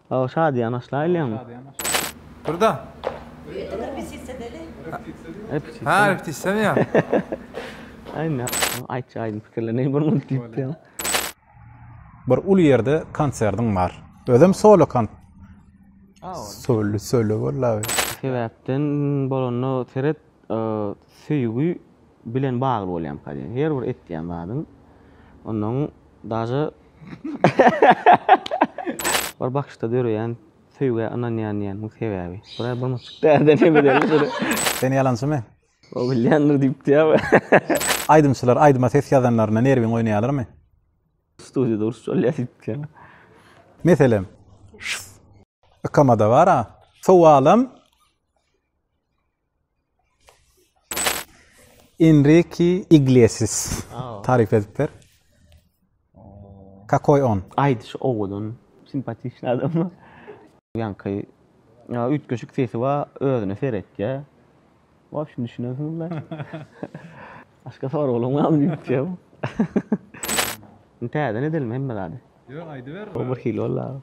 Aw şadyýan başla aýlaýaňmy? Durda. Ha, repetisiýa ýa. Aýna, aýtja aýdym pikirler ne bir munt diýipdi. Bir uly ýerde konsertiň bar. Özem solo kon. Solo solo bolda. Sebäpden bolanda seret söýgi bilen bagly bolýamyka diýen. Her bir etýän zadyň ondan daže Bir bakyşda döreýän söýgä ynanýan diýen bu sebäbi. Bura bir muçuk därden hem edeli şuny. Sen ýalançymy? O bilýändir diýipdi ýa-da. Aýdymçylar aýdyma ses ýazanlarynda nerwiň oýnaýarlarmy? Studiýada uruş bolýar diýipdi ýa-da. Meselem, şs. Ykamada bar-a. Sowalam. Enriki Iglesias. Taryp edip ber. Kakoý on? Aýdyşy owadan, simpatiçny adam. Ýaňky üýtgeşik sesi bar, özüne seretýär. Wobşem düşünensiňizmi? Başga soraglaň barmy diýipjikm. Täzeden edelim hemme zady. Ýok, aýdyber. Bu birhili boldy.